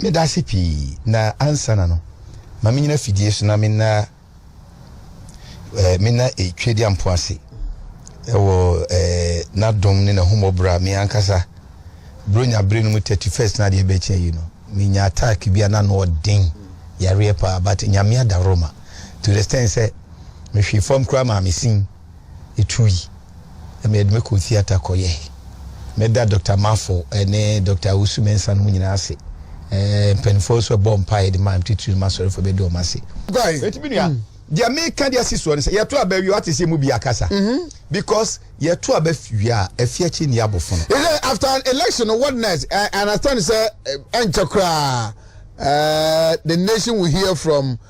Meda ase pii, na ansana no, ma me nyina fidie so na menna eh, menna eh, Tweadiampo ase eh, wɔ eh, n'adom ne n'ahummɔborɔ a me ankasa Buronya bere no mu 31st na adeɛ bɛkyɛ yi no, menya attack bi a na ano ɔden yareɛ paa, but Nyame adaworoma to the extent sɛ mehwee fam koraa maa me sin etui. Emi de mekɔɔ theatre kɔyɛe. Meda Dɔkta Marfo ne Dɔkta Owusu-Mensah no mo nyinaa ase. Mpanimfoɔ nso a ɛbɔɔ mpaeɛ de maa me titiriw no m'asɔrefo bɛdi wɔn ase. Guy, eti mi nua, deɛ meka de asi soɔ no sɛ yɛto aba wie wate sɛ yɛn mu bi akasa mhm. because yɛto aba wie a afi akyi nni abofono. Is it after an election or what next? I understand sɛ ɛnkyɛ koraa the nation will hear from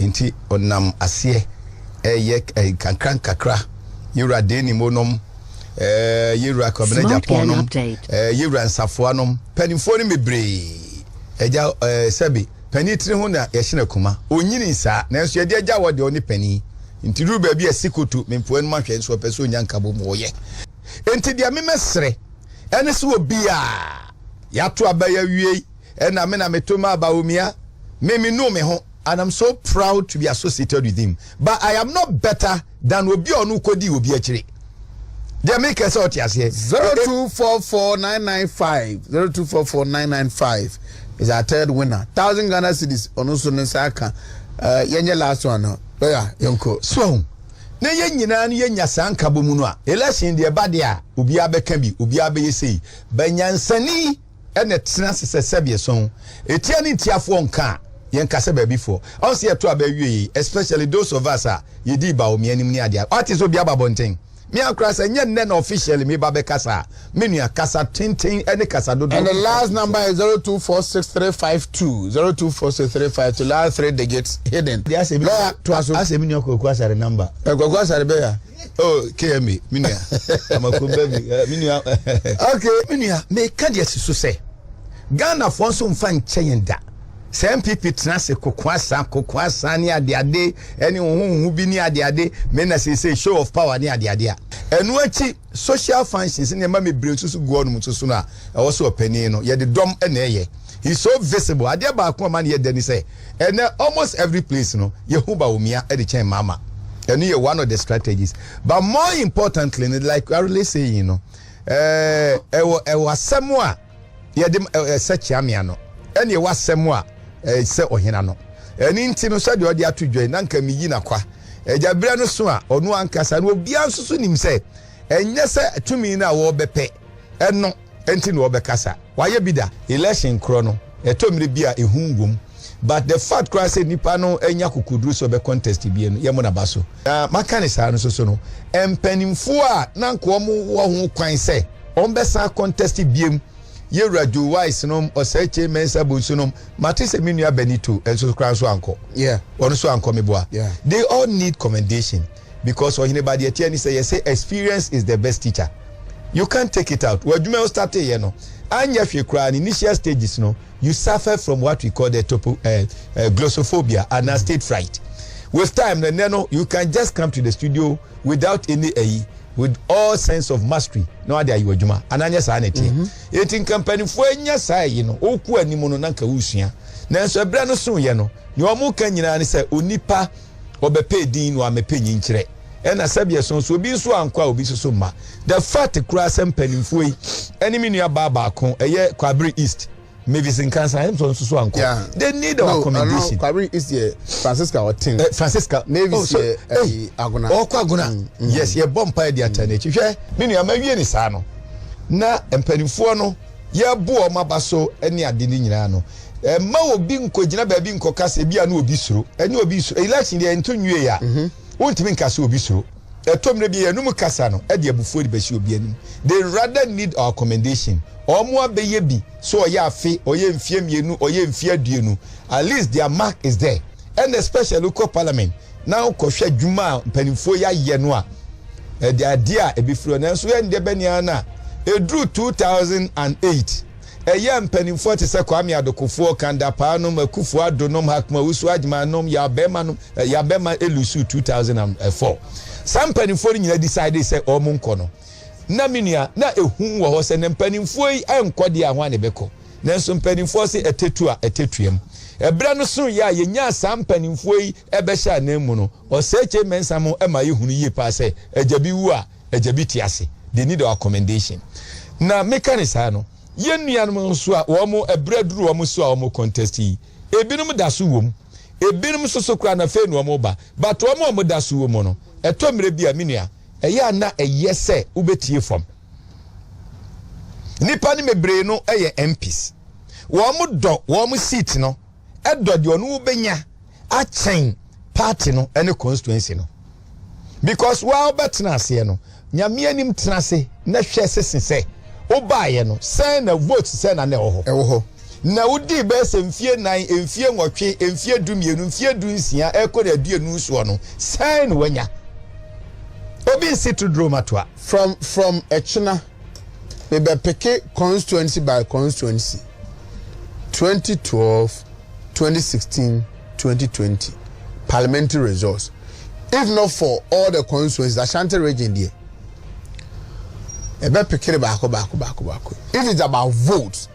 Enti ɔnam aseɛ ɛɛyɛ nkakrankakra yɛwura Deni mo nom, yɛwura Kwabena Gyapɔn nom, yɛwura Nsafoa nom, panifoɔ no bebree. Agya sɛbe pani tiri ho na yɛhyɛn akuma. Onyini saa, nanso yɛde agya wɔ deɛ ɔne pani. Nti duru baabi a sikoto mempoa anom ahwɛ nso ɔpɛ sɛ onya nkabɔ mu ɔyɛ. Enti deɛ memɛsrɛ ɛne sɛ obiara yɛato aba yɛawiei Ɛna me na me to maa Bawumia, me me nuu me ho. And I'm so proud to be associated with him but I am not better than obi a ɔno wokɔdii obi akyire. Deɛ me kɛ sɛ ɔte aseɛ. 0244995025 0244995025 is our third winner. Thousand Ghana cities ɔno nso ne nsa aka. Uh, yɛnyɛ last one no. Lawyer, yɛnkɔ. So, na yɛn nyinaa no yɛnya saa nkabɔ mu no a election deɛ ɛba deɛ a obiara bɛka bi obiara bɛyɛ sei banyansani ɛna ɛtena ase sɛ sɛdeɛ sɔn etia ne ntiafoɔ nka a yɛn ka sɛ baabi foɔ ɔn sɛ yɛto aba awie yei especially those of us a yɛdii baomi anim ne adeɛ ɔate sɛ obi aba bɔnten me ankora sɛ nyɛ nnɛ na officially me ba bɛkasa a me nua kasa tenten ɛne kasa dodo and the last number is 0246352 0246352 last three digits hidden deɛ asɛ me nua kwaku asare number kwaku asare bɛya oh kmi me nua amakrom ba bi eh, me nua okay me nua meka deɛ si so sɛ ghanafoɔ nso mfa nkyɛ yɛn da sɛ npp tena ase koko asa koko asa ne adeade ɛne hohoho bi ne adeade me na seesei show of power ne adeade a ɛno akyi social functions ne ɛma mebrɛ nso so gu ɔnom nso so no a ɛwɔ so ɔpanin no yɛde dɔm ɛna ɛyɛ he so visible adeɛ baako a ma ne yɛ dɛ ne sɛ Ɛnɛ almost every place no yɛhu Bawumia de kyɛn Mahama. Ɛno yɛ one of the strategies. But more importantly no like you are really saying no ɛɛ ɛwɔ ɛwɔ asɛm a yɛde ɛsɛ kyeamea no ɛne ɛwɔ asɛm a ɛsɛ ɔhena no. Ɛne nti no sɛdeɛ ɔde ato dwa yi na nka meyi n'akwa. Agya berɛ no so a ɔno ankasa no obiara nso so nim sɛ ɛnyɛ sɛ tumi no a wɔrebɛpɛ Ɛno nti na ɔbɛka sa. Wayɛ bi da. Election korɔ no, ɛtɔ mmere bi a ehu wom. But the fact koraa sɛ nipa no anya akokoduru sɛ ɔbɛ contest bie no, yɛmmɔ n'aba so. Na maka no saa no nso so no, mpanimfoɔ a na anka wɔn wɔ ho kwan sɛ wɔn bɛsan a contest biem, Yewura Joe Wise nom, Oseche, Mensah Bonsu nom, mate sɛ me nua Benito nso koraa nso ankɔ. Yeah. Ɔno nso ankɔ, meboa. Yeah. They all need commendation. because ɔhene ba deɛ ɛteɛ ne sɛ yɛse experience is the best teacher you can't take it out w'adwuma a wostate yɛ no anyɛ hwee koraa ne initial stages no you suffer from what we call the topo uh, uh, glossophobia and mm. state fright with time no ɛnɛ no you can just come to the studio without any ayi uh, with all sense of mastery na wade ayɛ adwuma ananyɛ saa na ɛteɛ mhm. enti nka mpanimfoɔ anya saa yi no wokɔ anim no na nka wosua nanso ɛberɛ no soyɛ no nea wɔn ka nyinaa ne sɛ onipa wɔbɛpɛ edin na wɔamɛpɛ nyinkyerɛ. Ɛna sɛdeɛ so nso obi nso ankɔ a obi nso so mma. The fact koraa sɛ mpaninfoɔ yi ɛne me nua baa baako ɛyɛ Kwabere East, Mavis Nkansah ɛne nso so ankɔ. Yeah. They need our no, commendation. No, Kwabere East yɛ Francisca ɔten. Eh, Francisca. Mavis oh, so, yɛ eh, hey, Agona. Ɔkɔ Agona. Mm, mm. Yes, yɛ bɔ mpa ɛde ata n'akyi. Hwɛ, me nua ma wie ne saa no. Na mpaninfoɔ no. yɛreboa wɔn aba so ne ade no nyinaa no, mma obi nkɔgyina baabi nkɔka sɛ ebia na obi suro. Ɛnyɛ obi suro. Election deɛ ɛnto nwiei a, mhm. wontumi nka sɛ obi suro. Ɛtɔ mmerɛ bi yɛnom kasa no de abufuo de bɛhyɛ obi anim. They rather need our commendation. Wɔn abɛyɛ bi sɛ ɔyɛ afe, ɔyɛ mfeɛ mmienu, ɔyɛ mfeɛ aduonu. At least their mark is there. Ɛna especially wokɔ parliament na wokɔhwɛ adwuma a mpanimfoɔ yi ayɛ no a, ɛde adeɛ a ɛbɛfiri hɔ. Nanso yɛn deɛ bɛne ara no a, ɛduru 2008, ɛyɛ a mpanimfoɔ te sɛ Kwame Adokofoɔ, Kan Dapaah nom, Akuffo Addo nom, Hakim Owusu Agyemang nom, Yaw Bɛɛma nom, Yaw Bɛɛma Elusu 2004. Saa mpanimfoɔ no nyinaa decidee sɛ wɔnkɔ no. Na me nua, na ɛhu wɔ hɔ sɛ na mpanimfoɔ yi nkɔ deɛ a, hwan na ɛbɛkɔ? Nanso mpanimfoɔ se ɛtɛ tu a ɛtɛ tuam. Ɛberɛ no so yɛ a yɛnyaa saa mpanimfoɔ yi bɛhyɛ anan mu no, Oseche Mensah mo ma yɛhunu yie paa sɛ agya bi wu a agya bi te ase, they need our commendation. Na meka no saa no, yɛn nuanom nso a wɔn berɛ aduru wɔn so a wɔn contest yi, ebinom da so wɔ mu, ebinom nso so koraa no afei na wɔn reba, but wɔn a wɔda so wɔ mu no, ɛtɔ mmerɛ bi a me nua, ɛyɛ a na ɛyɛ sɛ wobɛtie fam. Nnipa no bebree no yɛ MPs. Wɔn dɔ wɔn seat no dɔ deɛ ɔno wobɛnya akyɛn party no ne constituency no. Because waa wobɛtena aseɛ no, nyame anim tena ase na hwɛ sese sɛ wobaeɛ no sɛn na vote sɛn na na ɛwɔ hɔ. Ɛwɔ hɔ. Na wodii bɛyɛ sɛ mfie nan, mfie nwɔtwe, mfie du mmienu, mfie du nsia, ɛkɔ na aduonu soɔ no, sɛn na wanya? Obi nsi to duro matoa. From from ɛkyena me bɛ peke constituency by constituency twenty twelve twenty sixteen twenty twenty parliamentary results if not for all the constituencies ashanti region deɛ ɛbɛ peke ne baako baako baako baako if it's about votes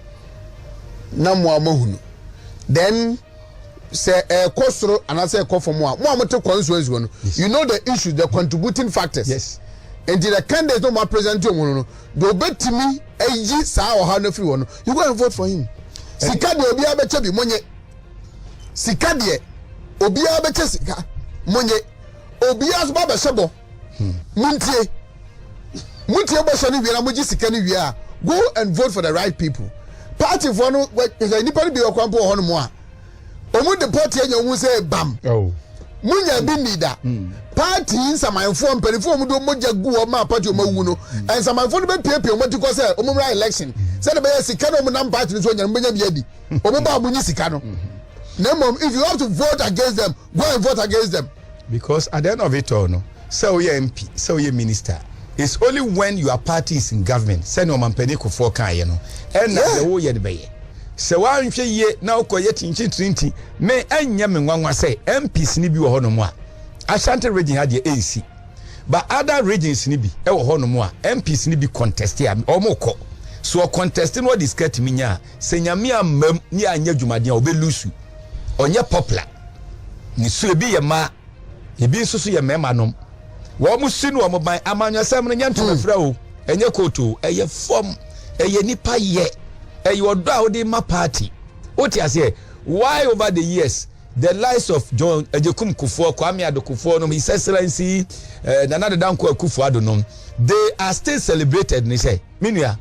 na mo a mo hunu then. sɛ ɛkɔ soro anaasɛ ɛkɔ fam a mo a mote constituency hɔ no you know the issues the contributing factors yes. nti the candidates no ma present wɔn no no deɛ obetumi ayi saa ɔhaw no afiri hɔ no you go and vote for him sika deɛ obiara bɛkyɛ bi monye sika deɛ obiara bɛkyɛ sika monye obiara nso ba bɛhyɛ bɔ. Montie, motie bɔhyɛ no wie na mogye sika no wie a, go and vote for the right people. Partyfoɔ no, sɛ nnipa no bi wɔ kwan po wɔ hɔ nom a, wɔn de pɔte anya wɔn sɛ bam. Munya bi ni da. Hmm. Party nsamanfoɔ mpanimfoɔ wɔn de wɔn mogya gu hɔ maa party wɔn awu no, hmm. nsamanfoɔ no bɛpiapia wɔn ti kɔ sɛ wɔn mmra election. Hmm. Sɛ de bɛyɛ sika na wɔn nam party no so ɔnyɛ no bɛnya bi adi. Wɔn ba a wɔn nyi sika no. Na mmom, if you have to vote against them, go and vote against them. Because at the end of it all no, sɛ woyɛ MP, sɛ woyɛ minister, it's only when your party is in government, sɛnea ɔmampanin kofoɔ kaeɛ no, ɛna Yeah. deɛ woyɛ no bɛyɛ. Sɛ woanhwɛ yie na wokɔyɛ kyinkyin tirinti, me ɛnyɛ me nwanwa sɛ MPs no bi wɔ hɔnom a, Ashanti region ha deɛ ɛnsi. But other regions no bi ɛwɔ hɔnom a, MPs no bi contest a, wɔkɔ. So ɔcontest no ɔde sika tumi nya a, sɛ Nyame ammam ne anyɛ adwumaden a, ɔbɛlusu. Ɔnyɛ popular. Nniso ebi yɛ mmaa, ebi nso so yɛ mmarima nom. Wɔn si no wɔn ban. Amanyɔsɛm no nyɛ ntomafira o, ɛnyɛ kootu o, ɛyɛ fam, ɛyɛ nipa yɛ, ɛyɛ ɔdɔ a wode ma party. Wote aseɛ? Why over the years the likes of John Agyekum Kufuor, Kwame Ado Kufuor nom, His Excellency uh, Nana Dada Nkoa Kufuor Ado nom, they are still celebrated ne sɛ, me nua,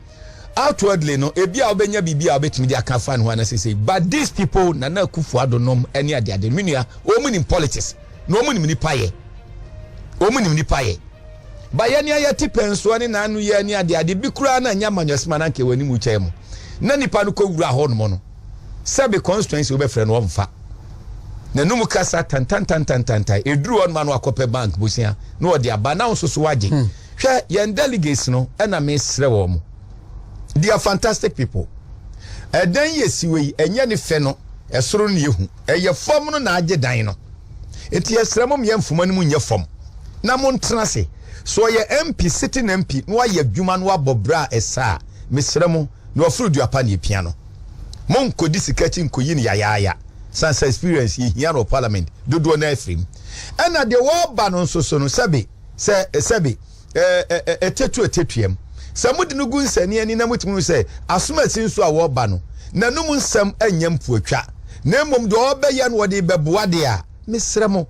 Outwardly no, ebia wobɛnya biribi a wobɛtumi de aka afa ne ho anaa seisei, but these people, Nana Akufo Addo nom ne adeade, me nua, wɔn nim politics, na wɔn nim nipa yɛ. Wɔn nim nipa yɛ. Ba yɛ ne ayɛ te pɛnsoɔ ne n'ano yɛ ne adeade bi koraa na nyɛ amanyɔsima na anka wɔn anim kyɛn mu. Na nipa no kɔ wura hɔ nom no, sɛbe constituency wobɛfrɛ no ɔmfa. N'anum kasa tantantantantantan, eduru hɔ nom ano akɔpɛ bank bosia na ɔde aba na nso so wagye. Hmm. Hwɛ, yɛn delegates no na mesrɛ wɔn. They are fantastic people. Ɛdan yi esi wɔ yi, ɛnyɛ ne fɛ no, ɛsoro no na ehu. Ɛyɛ fam no na agye dan no. Enti yɛsrɛ mo mmea mfuma no mu nyɛ fam na montena ase. So ɔyɛ MP, sitting MP, na wayɛ adwuma na wabɔ bra a ɛsɛ a, mesrɛ mo, na waforo dua pa na epia no. Monnkɔdi sika akyi nnkɔyi no yayaaya. Ɛsiane sɛ experience yɛhia no wɔ Parliament, dodoɔ no ara afiri mu. Ɛna deɛ wɔreba no nso so no, sɛbe. Sɛ sɛbe ɛ ɛ ɛ ɛtetu ɛtetuam. Sɛ mode no gu nsani ani na motumi hu sɛ asomasi nso a wɔreba no, n'anom nsɛm nyɛ mpoatwa, na mmom deɛ ɔrebɛyɛ no ɔde rebɛboa deɛ a, mesrɛ mo,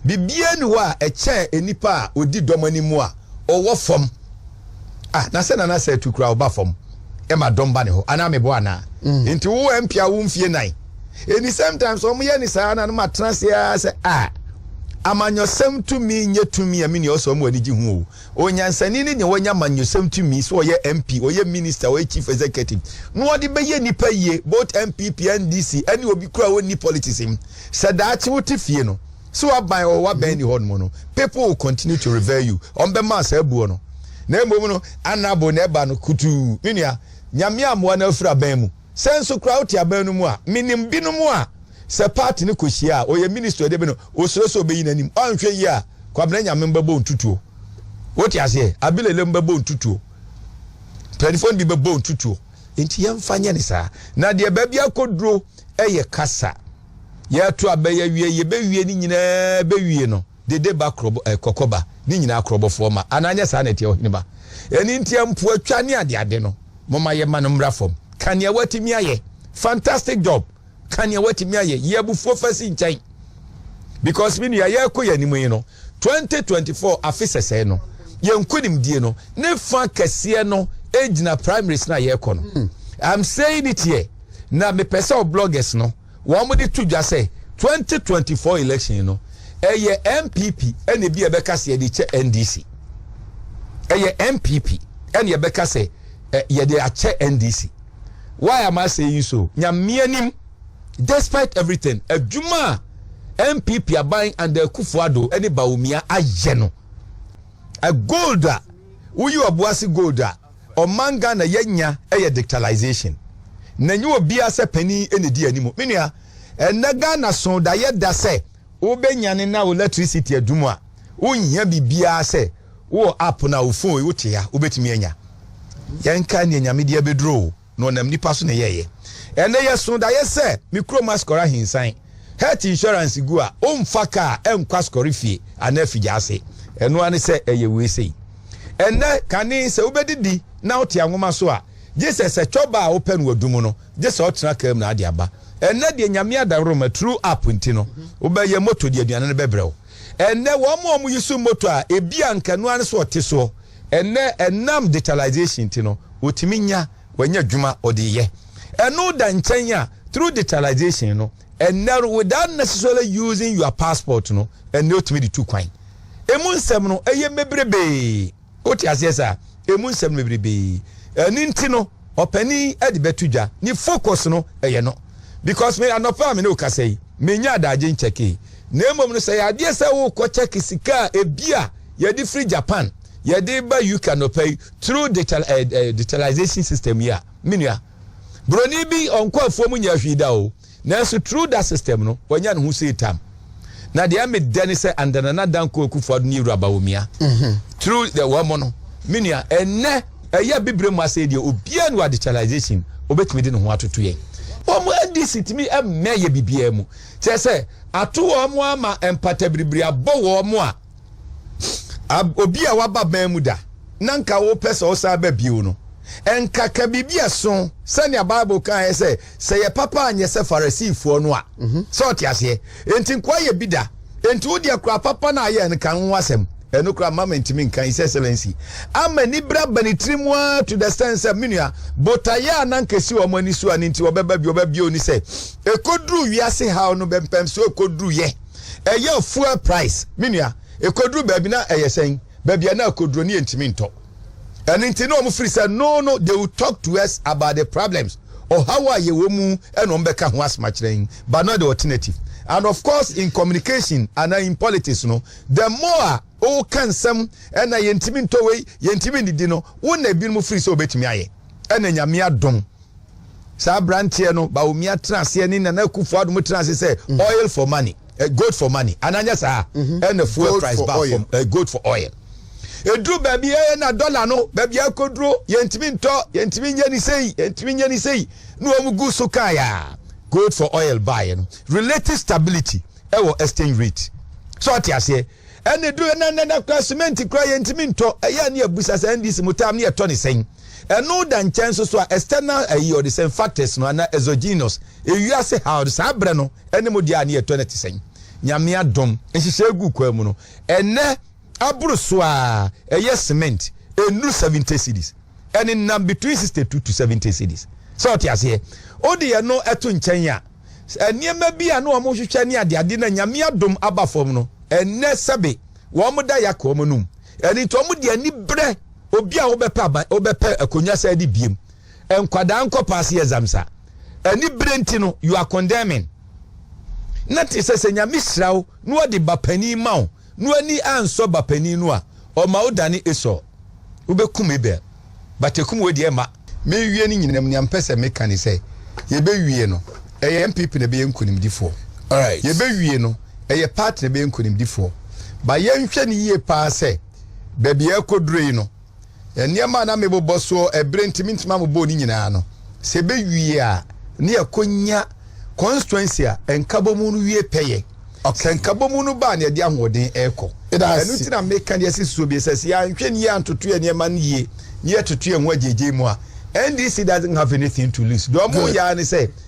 biribiara nni hɔ a ɛkyɛn nnipa a ɔdi dɔm anim a ɔwɔ fam. Ah, na sɛ Nana sɛ tu kura ɔba fam ɛma dɔm ba ne hɔ anaa meboa anaa? Mm. Nti wo ɛmpia wo mfie nan. Ɛni sometimes wɔn yɛ ne saa na no ma tena se ara sɛ a ah, amanyɔsɛm tumi nyɛ tumi a menua ɔsɛ wɔn ani gye ho o. Onyansani ne deɛ wɔanya amanyɔsɛm tumi sɛ ɔyɛ MP, ɔyɛ minister, ɔyɛ chief executive. Na ɔde bɛyɛ nipa yie, both MPP, NDC, ɛne obi kura ɔnni politics mu. Sɛ daakye wote fie no, So waban ɔwɔ waban mm-hmm. ni hɔ nom no people will continue to revere you wɔn bɛ ma saa buo no na mmom no anabo na ɛba no kutuu me nua nyame amoa na afiri aban mu sɛ nso koraa wote aban no mu a menim binom a sɛ party no kɔhyia a ɔyɛ minister ɔde bi no ɔsuro sɛ ɔbɛyi n'anim ɔanhwɛ yi a kwabena nyame mbɛbɔ ntutuo wote aseɛ abilele mbɛbɔ ntutuo mpanimfoɔ no bi bɛbɔ ntutuo nti yɛmfa nyɛ ne saa na deɛ baabi akɔduro ɛyɛ kasa Yɛto a bɛyɛ wie yɛ bɛ wie ne nyinaa bɛ wie no dede ba korɔbɔ eh kɔkɔ ba ne nyinaa korɔbɔfoɔ ma anaa nyɛ saa na ɛteɛ ɔhene ba ɛne nti mpoa twa ne ade ade no moma yɛ ma no mmra fam ka nea watumi ayɛ fantastic job ka nea watumi ayɛ yɛ abufuo fa si nkyɛn because me nua yɛko yɛ anim yi no 2024 afe sɛsɛɛ no, yɛn nkonimdie no ne fa kɛseɛ no gyina primaries no a yɛrekɔ no. Hmm. I'm saying it here. Na mepɛ sɛ bloggers no wɔn de to dwa sɛ 2024 election no ɛyɛ NPP ɛna ebi a ɛbɛka sɛ yɛde kyɛ NDC. Ɛyɛ NPP ɛna ɛbɛka sɛ yɛde akyɛ NDC. Why am I saying so? Nyamea nim. Despite everything, adwuma a NPP aban under Akufo Addo ne Bawumia ayɛ no, a gold a woyi ɔboase gold a ɔman Ghana yɛanya yɛ dictalization. Na ɛnyɛ obiara sɛ panin na ɛdi anim. Me nua, ɛnnɛ Ghana so da yɛ da sɛ wobɛnyane na wo electricity adum a, wonhia biribiara sɛ wowɔ app no a wo phone yi wote a wobɛtumi anya. Yɛnkae nea Nyame de abɛduru o. na ɔnam nnipa so na ɛyɛeɛ. Ɛnnɛ yɛsoo daeɛ sɛ me kurom asɔre ahinsan. Health insurance gu a, womfa kaa nkɔ asɔre fie anaa afigya ase. Ɛno ara ne sɛ ɛyɛ wei sei. Ɛnnɛ, kane sɛ wobɛdidi na wote anwoma so a, gye sɛ sɛ cɔba a wopɛ no w'adu mu no, gye sɛ wotena kaa mu na ade aba. Ɛnnɛ deɛ Nyame adaworoma, through app nti no, wobɛyɛ moto de aduane no bɛbrɛ wo. Ɛnnɛ, wɔn a wɔyi so motor a ebia anka ɛno ara ne so ɔte soɔ ɛnnɛ, ɛnam digitalization nti no, ɔtumi nya, wanya adwuma ɔde yɛ. Ɛno da nkyɛn a, through digitalization no, ɛnnɛ no, without necessarily using your passport no, ɛnnɛ ɔtumi de tu kwan. Ɛmu nsɛm no, ɛyɛ mebrebee. Wote aseɛ saa? Ɛmu nsɛm no bebrebe. Ɛno nti no, ɔpanin de bɛto dwa. Ne focus no, ɛyɛ no. Because me, anɔpa a me ne wo kasa yi, mennya adagye nkyɛkee. Na mmom no, sɛ ɛyɛ adeɛ sɛ wokɔ kyɛke sika a ebi a yɛde firi Japan, yɛde ba UK anɔpa yi, through digital, eh, eh, digitalization system yi a, me nua, buroni bi, ɔnkɔ afuo mu nyɛ ahwii da o. Nanso through that system no, wanya ne ho sei tam. Na deɛ ɛme dɛ ne sɛ under Nana Dankwa Akufo-Addo ne Ewura Bawumia, mm-hmm. through the wɔn no, me nua, ɛnɛ ɛyɛ bibire mu asɛ deɛ obiara no adekyalization obetumi de ne ho atoto yɛn. wɔn ndc tumi mmɛ yɛ bibiara mu kyerɛ sɛ ato wɔn ama mpatabiribiri abɔ wɔn a ab, obi a waba bɛn mu da na nka wopɛ sɛ ɔsan ba bio no, nka ka biribi a ɛso sɛnea Bible kaeɛ sɛ sɛ yɛ papa anyɛ sɛ Farisifoɔ no a. Mhm. Sɛ ɔte aseɛ. Enti nkoa yɛ bi da. Enti wo deɛ kora papa no a yɛ no kan ho asɛm. Ɛno kora mama ntumi nka His Excellency. Ama anibere aba ne tiri mu ara to the sense sɛ me nua, botaeɛ a na nka ɛsi wɔn ani so a ne nti wɔbɛba bi wɔbɛbie oni sɛ ɛkɔduru wiase haw no bɛmpɛm so ɛkɔduruyɛ. Ɛyɛ fuel price me nua ɛkɔduru baabi na ɛyɛ sɛn baabi a na ɛkɔduru ne yɛntumi ntɔ ɛno nti na wɔn firi sɛ no no they will talk to us about the problems ɔhaw a yɛwɔ mu ɛna wɔn bɛka ho asoma kyerɛ yɛn but not the alternative and of course in communication and in politics no the more a ɔka nsɛm ɛna yɛntumi ntɔ wei yɛntumi ndidi no wo na ebinom firi sɛ wɔbɛtumi ayɛ ɛna nyame adom Saa aberanteɛ no, Bawumia tena aseɛ ne Nana Akufo Addo mo tena ase sɛ mm. oil for money, eh, gold for money, anaa nyɛ saa? Mm -hmm. Ɛna fuel gold price ba fam, eh, gold for oil. Eduru baabi ɛyɛ eh, na dɔla no, baabi akoduro, yɛntumi ntɔ, yɛntumi nyɛ ne sei, yɛntumi nyɛ ne sei, na wɔn gu so kaa yaa. Gold for oil baeɛ no, relative stability ɛwɔ exchange rate. So ɔte aseɛ. Ɛne duru ɛna ɛna ɛna kora simenti kora yɛn ntumi ntɔ ɛyɛ a ne yɛ busa sɛ NDC mu time ne yɛ tɔ ne sɛn ɛno da nkyɛn so so a external ɛyi ɔde sɛn factors no ana exogenous ewiase ha ɔde saa brɛ no ɛne mo deɛ a ne yɛ tɔ ne te sɛn nyamea dom nhyehyɛ egu kwa mu no ɛnɛ aboro so a ɛyɛ cement ɛnuru 70 cities ɛne nam between 62 to 70 cities sɛ ɔte aseɛ ɔde yɛ no ɛto nkyɛn a. nneɛma bi a na wɔhwehwɛ ne adeade no a Nyame adom aba fam no, ɛnnɛ sɛbe wɔda yɛaka wɔn anom. Ɛno nti wɔde ani brɛ obi a wobɛpɛ aban, wobɛpɛ akonnwa sɛ adi biem. Nkwadaa nkɔpa ase exam sa. Ani brɛ nti no, you are condemning. Na te sɛ sɛ Nyame hyira wo na ɔde ba panin ma wo No ani ansɔ ba panin no a ɔma wo dane Esau wo bɛ kum Abel but ɛkum wei deɛ ɛmma. Me wie ne nyinam nea mpɛ sɛ me ka ne sɛ yɛbɛ wie no ɛyɛ NPP na ɛbɛyɛ nkunimdifoɔ alright yɛbɛ wie no ɛyɛ party na ɛbɛyɛ nkunimdifoɔ but yɛnhwɛ no yie paa sɛ baabi a ɛkɔ duro yi no Nneɛma a na mebobɔ so bere nti mintumi ammobɔɔ ne nyinaa no, sɛ ebewie a, na yɛakonya constituency a Nkabɔmu no wie pɛyɛ. Sɛ Nkabɔmu no ba a, na yɛde ahoɔden rekɔ. Ɛno nti na meka nea asi soɔ bio sɛ, sɛ yɛanhwɛ no yie antoto yɛn nneɛma no yie na yɛtoto yɛn ho agyaagyae mu a, NDC doesn't have anything to lose. Deɛ wɔreyɛ ara ne sɛ,